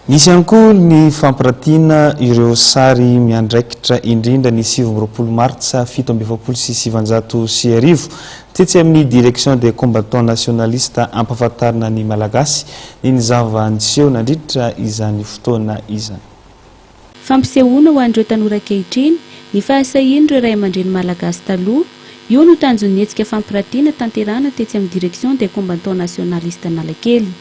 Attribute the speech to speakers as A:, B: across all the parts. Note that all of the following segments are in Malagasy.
A: Nisy ihany koa ny fampiratiana ireo sary miandraikitra indrindra ny sivy amby roapolo martsa fito amby efapolo sy sivanjato sy arivo, tetsy amin'ny Direction des Combattants Nationalistes hampafantarina ny Malagasy ny ny zava-niseho nandritra izany fotoana izany.
B: Fampisehoana ho an'ireo tanora ankehitriny ny fahasahian'ireo ray aman-dreny malagasy taloha, io no tanjon'ny hetsika fampirantiana tanterahana tetsy amin'ny Direction des Combattants Nationalistes Analakely.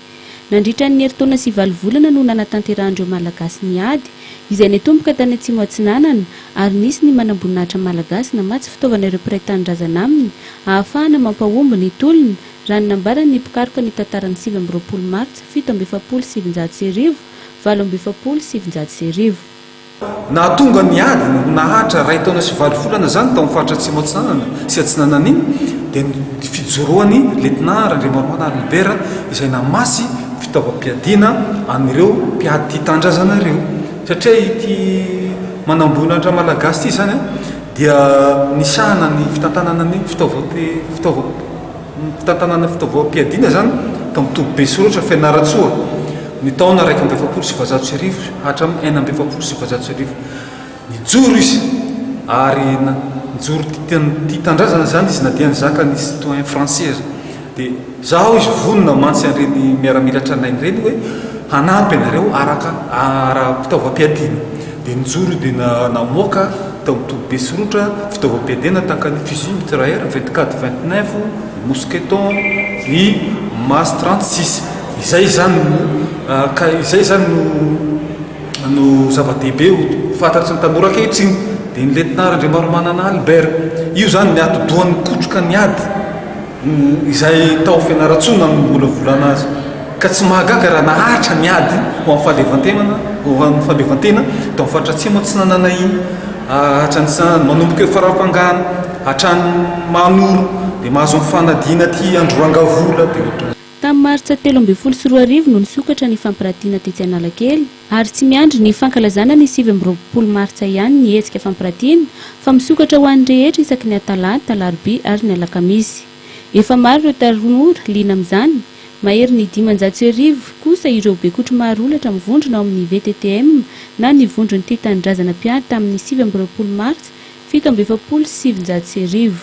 B: Nandritra ny herintaona sy valo volana no nanatanterahan'ireo Malagasy ny ady, izay nitomboka tany Atsimo Atsinanana, ary nisy ny manamboninahitra malagasy namatsy fitaovana ireo mpiray tanindrazana aminy ahafahana mampahomby ny tolona, raha ny nambaran'ny mpikaroka ny tantaran'ny sivy amby roapolo martsa fito amby efapolo sy sivinjato sy arivo, valo amby efapolo sy sivinjato sy arivo. Nahatonga
C: ny ady ho naharitra iray taona sy valo volana izany tao amin'ny faritra Atsimo Atsinanana sy Atsinanana iny dia ny fijoroan'i Lietnà Randriamaromaty Albert izay namasy fitaovam-piadiana an'ireo mpiady tia tandrazana ireo satria ity manambonin'Andra Malagasy ity izany dia nisahana ny fitantanana ny fitaovam-piadiana Ny fitantanana fitaovam-piadiana izany ka mitoby be soratra Fianarantsoa ny taona iraika amby efapolo sy sivinjato sy arivo hatramin'ny enina amby efapolo sy sivinjato sy arivo. Nijoro izy ary nijoro tia tandrazana izany izy na dia nizaka ny citoyen français aza. Dia za hoy izy vonona mantsy an'ireny miaramila tranainy ireny hoe hanampy anareo araka ara-pitaovam-piadiana. Dia nijoro dia namoaka tao amin'ny toby be soritra fitaovam-piadiana tahaka ny fusil mitrailleur, vetikady vingt-neuf, mousqueton, ny mas trente-six. Izay izany no, ka izay izany no no zava-dehibe ho fantatry ny tanora ankehitriny. Dia ny lietnà Randriamaromanana Albert. Io izany ny atidohan'ny kotroka ny ady. Izay tao Fianarantsoa nanombola-volana azy. Ka tsy mahagaga raha naharitra ny ady ho amin'ny fahaleovan-tenana, ho an'ny fahaleovan-tena tao amin'ny faritra Atsimo aho tsy nanana iny. Hatramin'izany, manomboka eo Farafangana, hatrany Mahanoro, dia mahazo ny fanadina aty Androrangavola, dia ohatran'izay. Tamin'ny martsa telo
B: ambin'ny folo sy roa arivo no nisokatra ny fampiratiana tetsy Analakely ary tsy miandry ny fankalazana ny sivy amby roapolo martsa ihany ny hetsika fampiratiana fa misokatra ho an'ny rehetra isaky ny atalata, alarobia ary ny alakamisy. Efa maro ireo tanora liana amin'izany, mahery ny dimanjato sy arivo kosa ireo bekotro maro olatra mivondrona ao amin'ny VTTM na ny Vondron'ny Tia Tanindrazana mpiady tamin'ny sivy amby roapolo martsa fito amby efapolo sy sivinjato sy arivo.